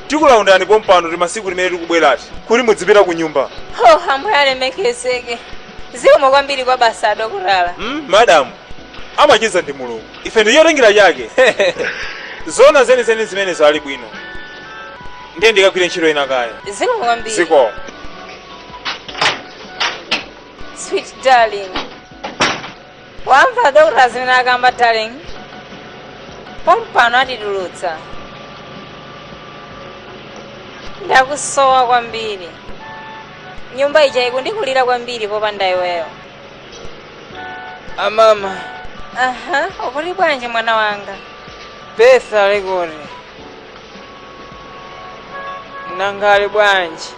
tikulaunda ndi pompano ndi masiku amene tikubweretsani kuti mudzipita ku nyumba Oh, ambuye alemekezeke. Zikomo kwambiri kwambiri adokotala. mm, madamu amachiza ndi mulungu ife ndi chotengera chake zona zenizeni zimenezo ali bwino ndiye ndikagwire ntchito ina kaye zikomo kwambiri zikomo sweet darling wamva dokota zimene akamba darling pompano atitulutsa ndakusowa kwambiri nyumba ija ikundikulira kwambiri popanda iweyo amama aha uli bwanji mwana wanga Bertha ali kuti nanga ali bwanji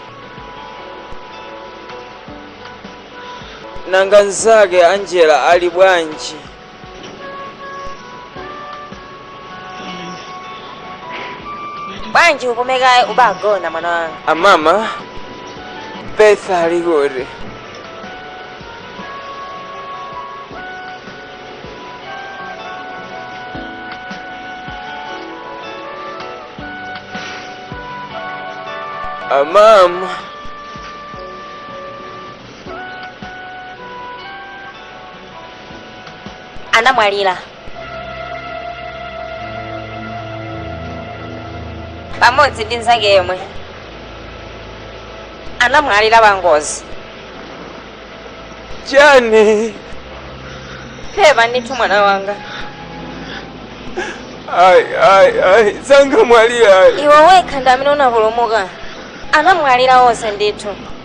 nanga nzake angela ali bwanji bwanji upume kaye uzigona mwana wanga amama Bertha ali kuti amama anamwalira pamodzi ndi mnzake yemwe anamwalira pa ngozi chani pepa ndithu mwana wanga ayi ayi ayi sangamwalire ayi iwe wekha ndi amene unapulumuka anamwalira onse ndithu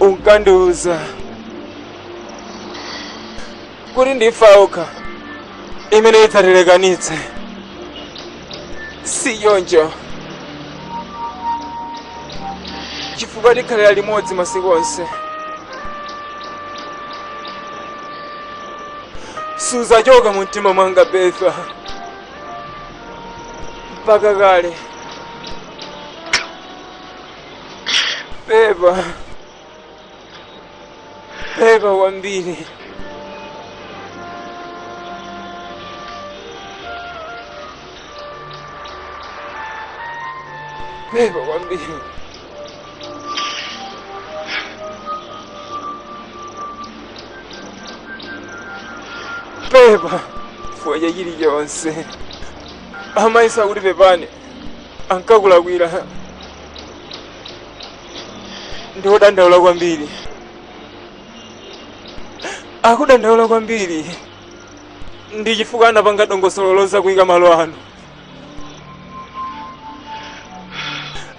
unkandiuza kuti ndi imfa yokha imene idzatilekanitse si choncho chifukwa tikhalira limodzi masiku onse sudzachoka mu mtima mwanga Bertha mpaka kale pepa pepa kwambiri pepa kwambiri pepa chifukwa cha chilichonse amayinso akuti pepani ankakulakwira ndi wodandaula kwambiri akudandaula kwambiri ndi chifukwa anapanga dongosolo lodzakuika malo ano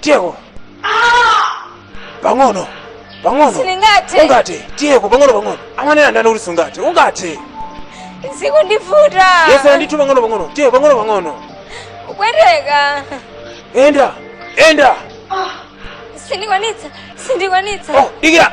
tiyeko pang'ono pang'ono Sindingathe. ungate tiyeko pang'ono pang'ono amanena ndani kuti sungate ungate zikundivuta yesera ndithu pang'ono pang'ono tiye pang'ono pang'ono kupweteka enda enda sindikwanitsa sindikwanitsa oh, dikira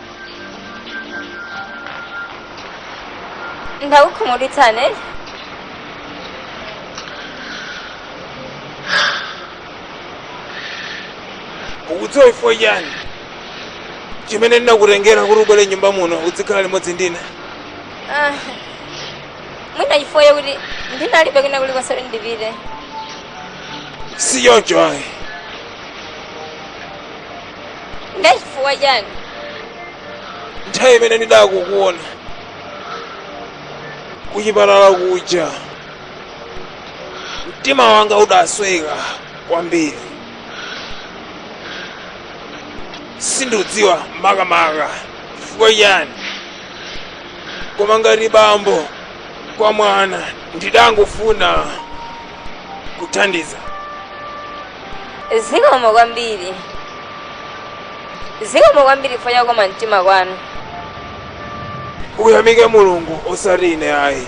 ndakukhumudwitsani eti ukudziwa chifukwa chani chimene ndinakutengera kuti ubwere m'nyumba muno udzikhala limodzi ndine Ah, mwina chifukwa chakuti ndinalibe kwina kulikonse kuti ndipite si choncho ayi nde chifukwa chani nthawi imene ndidakuona kuchipatala kuja mtima wanga udasweka kwambiri sindikudziwa makamaka chifukwa chani koma ngati bambo kwa mwana ndidangofuna kuthandiza zikomo kwambiri zikomo kwambiri chifukwa cha kukoma mtima kwanu uyamike mulungu osati ine ayi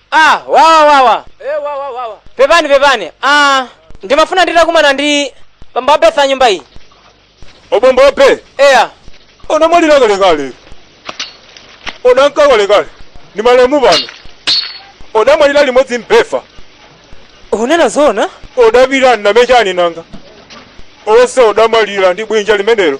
Ah, wawa wawa. Eh, wawa wawa. Pepani pepani. Ah, ndimafuna nditakumana ndi bambo a m'nyumba iyi. obomba ope Eya. odamwalira kalekale odamka kalekale ndi malemu pano odamwalira limodzi mbefa Mukunena zoona? odapirani namechani nanga onse odamwalira ndi bwinja limenero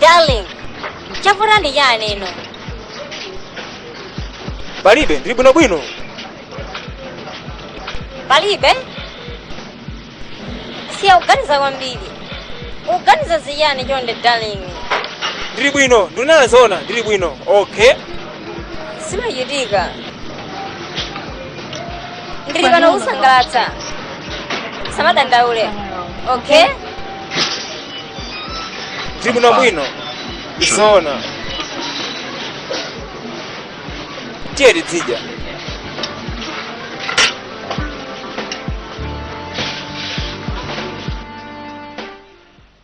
darling chavuta ndi chani no palibe ndili bwinobwino palibe siya kuganiza kwambiri ukuganiza za chani chonde darling ndili bwino ndinena zoona ndili bwino okay simachitika ndili pano kukusangalatsa usamadandaule okay ndili bwinobwino zoona tiye tidzidya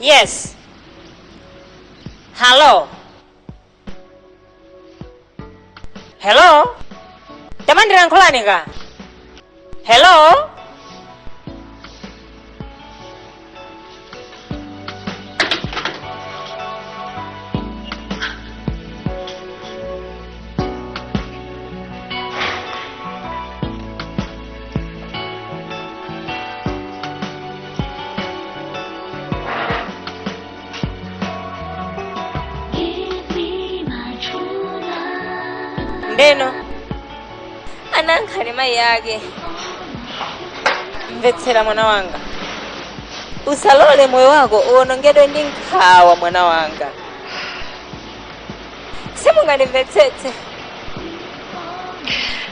Yes. Hello. Hello. Tamandira nkhulani ka. Hello. ndeno ananena mayi ake mvetsera mwana wanga usalole moyo wako uwonongedwe ndi nkhawa mwana wanga simungandimvetsetse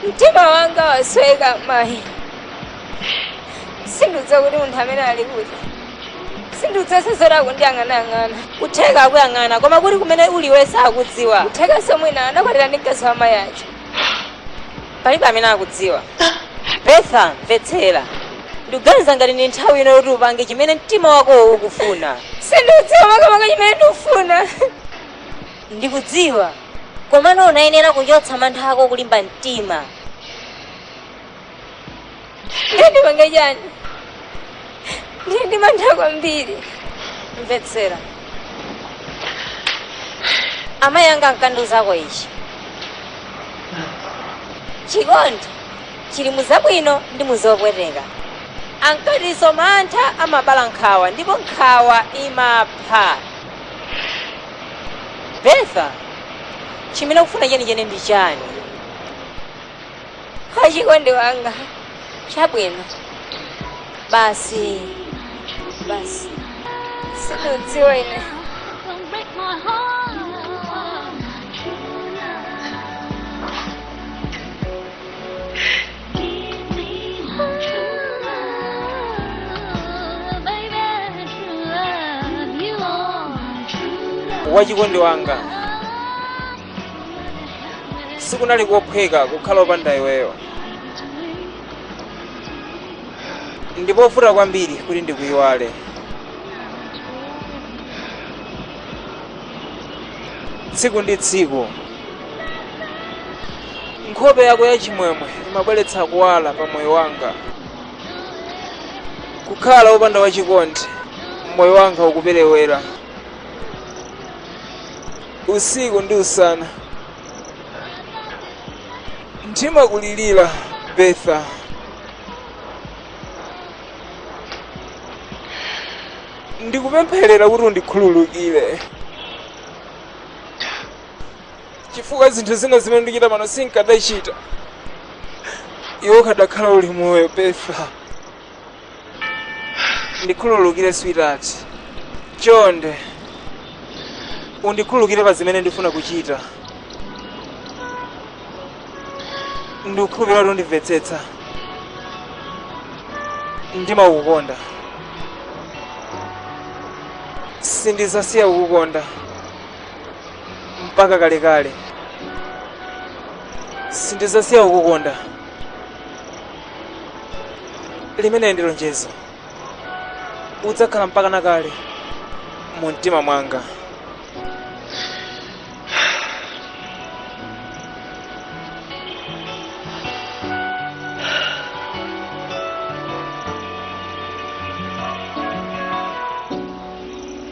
mtima wanga wasweka mayi sindikudziwa kuti munthu amene ali kuti sindikudziwa zoti akundiyang'anayang'ana kutheka akuyang'ana koma kuti kumene uli iwe sakudziwa kutheka nso mwina anakwatira ndi mkazi wa mayi ake palibe amene akudziwa betha mvetsera ndikuganiza ngati ndi nthawi ino yoti upange chimene mtima wakowo ukufuna sindikudziwa makamaka chimene ndikufuna Ndikudziwa, komano unayenera kuchotsa mantha ako kulimba mtima. Ndiye ndipange chani? Ndili ndi mantha kwambiri. Mvetsera. Amayi anga ankandiuzako ichi. Chikondi chili mu zabwino ndi mu zopweteka. Ankatinso mantha amabala nkhawa ndipo nkhawa imapha. betha chimene ukufuna chenicheni ndi chani wachikondi wanga chabwino basi basi sindikudziwa ine Don't break my heart. wachikondi wanga sikunali kophweka kukhala opanda iweyo ndi povuta kwambiri kuti ndikuyiwale tsiku ndi tsiku Nkhope yako yachimwemwe imabweretsa kuwala pa moyo wanga. Kukhala wopanda wachikondi, moyo wanga ukuperewera. Usiku ndi usana ndimakulirira Betha. Ndikupempherera kuti undikhululukire. chifukwa zinthu zina zimene ndikuchita pano sinkadachita iwe ukadakhala uli moyo Betha ndikhululukire sweetheart chonde undikhululukire pa zimene ndifuna kuchita ndikukhulupirira kuti undimvetsetsa ndimakukonda sindizasiya kukukonda mpaka kalekale sindizasiya kukukonda limeneli ndi lonjezo udzakhala mpaka na kale mu mtima mwanga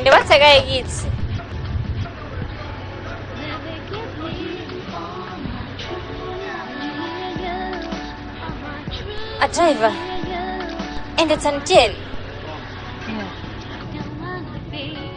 ndipatse kaye kiss a driver endetsani tiyeni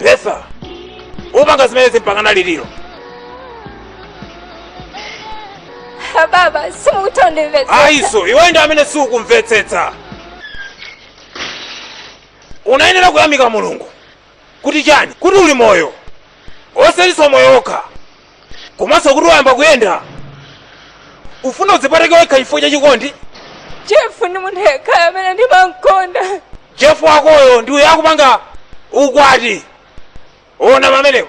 betha upanga zimenezi mpaka na liti iii baba simukundimvetsa ayiso iwe ndi amene siukumvetsetsa unayenera kuyamika mulungu kuti chani kuti uli moyo osatinso moyo wokha komanso kuti wayamba kuyenda ufuna udzipereke wekha chifukwa cha chikondi jefu ndi munthu yekhayo amene ndimamkonda jefu wakoyo ndi uyo akupanga ukwati ona pamenepo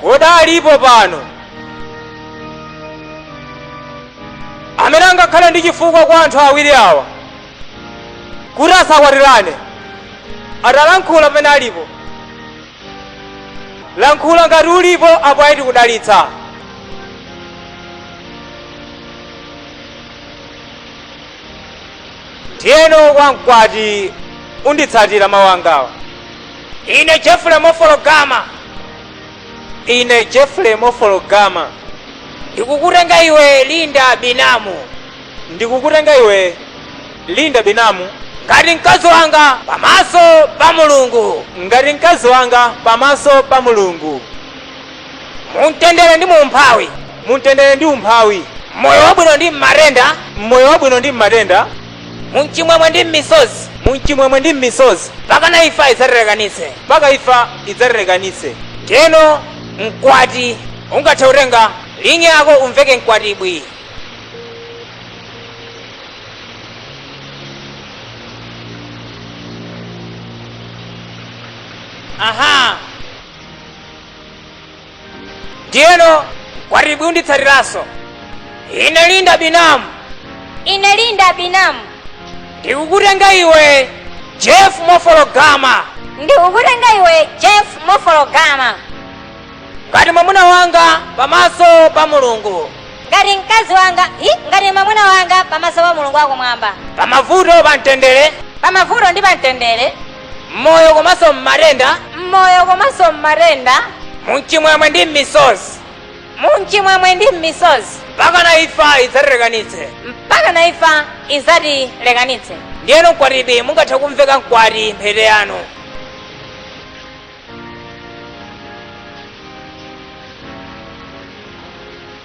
kodi alipo pano amene angakhale ndi chifukwa kwa anthu awiri awa kuti asakwatirane atalankhule pamene alipo lankhula ngati ulipo apo ayi tikudalitsa ndiyeno kwa mkwati unditsatira mawu angawa ine jeffrey mofologama ine jeffrey mofologama ndikukutenga iwe linda binamu ndikukutenga iwe linda binamu ngati mkazi wanga pamaso pa mulungu ngati mkazi wanga pamaso pa mulungu mumtendere ndi mu umphawi mumtendere ndi umphawi m'moyo wabwino ndi m'matenda m'moyo wabwino ndi m'matenda mumchimwemwe ndi m'misozi mumchimwemwe ndi m'misozi mpakana imfa idzatilekanitse mpaka imfa idzatilekanitse ndiyeno mkwati ungathe kutenga lingi yako umveke mkwatibwi aha ndiyeno mkwatibwi unditsatiranso ine linda binamu ine linda binamu ndikukutenga iwe jeff mofologama ndikukutenga iwe jeff mofologama ngati mwamuna wanga pamaso pa mulungu ngati mkazi wanga hi ngati mwamuna wanga pamaso pa mulungu wakumwamba pamavuto pamtendere pamavuto ndi pamtendere m'moyo komanso m'matenda m'moyo komanso m'matenda mumchimwemwe ndi m'misozi mumchimwemwe ndi m'misozi mpakana imfa idzatilekanitse mpakana imfa idzatilekanitse ndiyeno mkwatibwi mungathe kumveka mkwati mphete yanu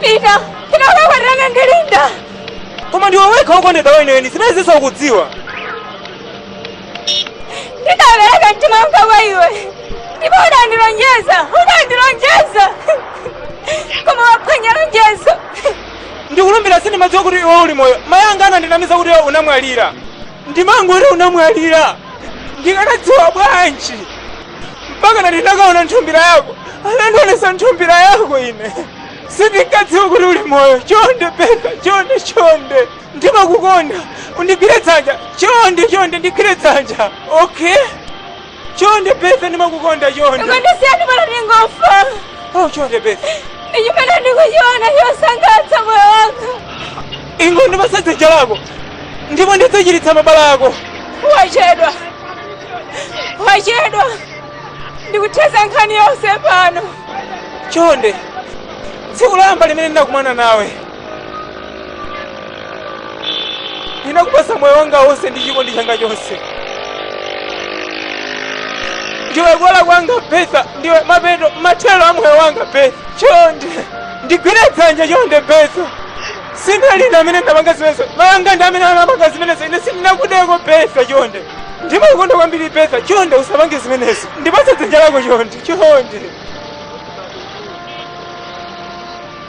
pita pita ukakwatirane ndi linda koma ndiwe wekha wokondedwa weniweni zimenezinso ukudziwa ndidapereka mtima wanga kwa iwe ndipo udandilonjeza udandilonjeza koma waphwanya lonjezo ndikulumbira sindimadziwa kuti iwe uli moyo mayi anga anandinamiza kuti iwe unamwalira ndimangoti unamwalira ndikanadziwa bwanji mpakana ndinakaona nthumbira yako anandionesa nthumbira yako ine sindinkadziwa kuti uli moyo chonde peka chonde chonde ndimakukonda undigwire dzanja chonde chonde ndigwire dzanja okay Chonde Betha ndimakukonda chonde. Ukandisiya pano ndingofa. Oh chonde Betha. Ndi chimene ndikuchiona chosangalatsa moyo wanga. Ingondipatsa dzanja lako. Ndipo ndidzachiritsa mabala ako. Wachedwa. Wachedwa. Ndikuthetsa nkhani yonse pano. Chonde. Tsiku loyamba limene ndinakumana nawe. ndinakupatsa moyo wanga wonse ndi chikondi changa chonse ndiwe kuwala kwanga betha ndiwe mapeto mathero a moyo wanga betha chonde ndigwire dzanja chonde betha sindine amene ndapanga zimenezo mayanga ndi amene anapanga zimenezo ine sindinakudeko betha chonde ndimakukonda kwambiri betha chonde usapange zimenezo ndipatse dzanja lako chonde chonde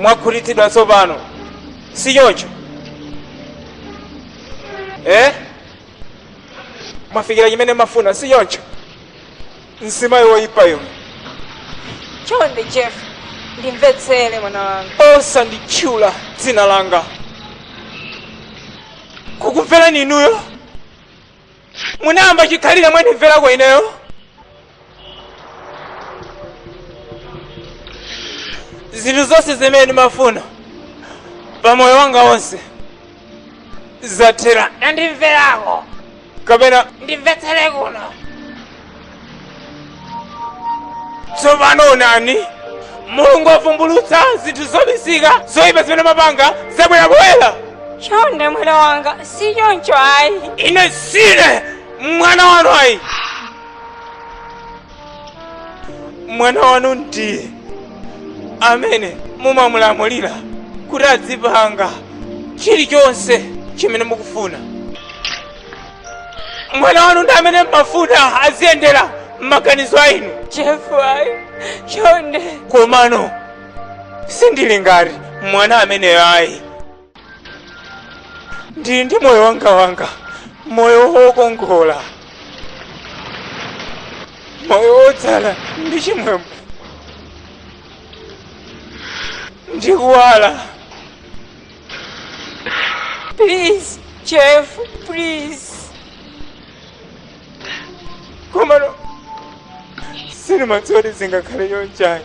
mwakhutitsidwa tsopano si choncho eh? mwafikira chimene mumafuna si choncho mzimayi woyipa inu chonde jeff ndimvetsere mwana wanga osanditchula dzina langa kukumverani inuyo munayamba chikhalire mwandimverako ineyo zinthu zonse zimene ndimafuna pa moyo wanga wonse zathera mwandimverako kapena kundimvetserako tsopano onani mulungu wavumbulutsa zinthu zobisika zoyipa zimene mumapanga zabwera poyera chonde mwana wanga si choncho ayi ine sine mwana wanu ayi mwana wanu ndiye amene mumamulamulira kuti azipanga chilichonse chimene mukufuna mwana wanu ndi amene mmafuna aziyendera m'maganizo ainu Jeffrey, chonde. komano sindili ngati mwana ameneyo ayi ndili ndi moyo wanga wanga moyo wokongola moyo wodzala ndi chimwemwe ndi kuwala please Jeff please komano sindimadziwa kuti zingakhale chonchani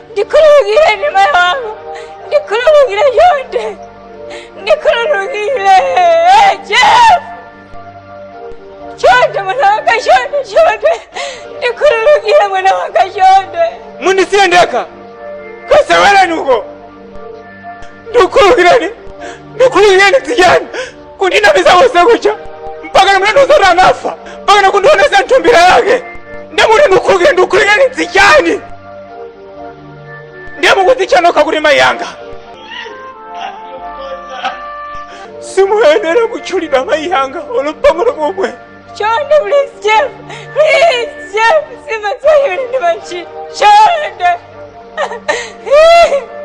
ndikhululukireni mayi wanga ndikhululukire chonde ndikhululukire jeff chonde mwana wanga chonde chonde ndikhululukire mwana wanga chonde mundisiye ndekha kasewereni uko ndikhululukireni ndikhululukireni tijani kundinamiza konse kuja mpaka nkumalenga zoti anafa mpaka nokundionesa nthumbira yake ndiye mukuti ndikhululukire ndikhululukire zichani ndiye mukudzitcha nokha kuti mayi yanga simuyenera kutchulidwa mayi yanga olo pang'ono pomwe Chonde, please, Jeff. Please, Jeff. Sima sayo ni machi. Chonde.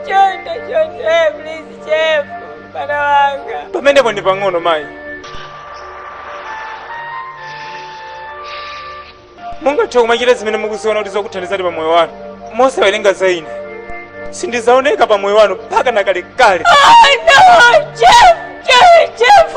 Chonde, chonde, please, Jeff. Mwana wanga. Pamenepo ndi pang'ono mayi. Mungathe kumachita zimene mukuziona kuti zikuthandizani pa moyo wanu. Mosawerenga za ine. Sindizaoneka pa moyo wanu mpaka na kalekale. Oh no, Jeff, Jeff, Jeff.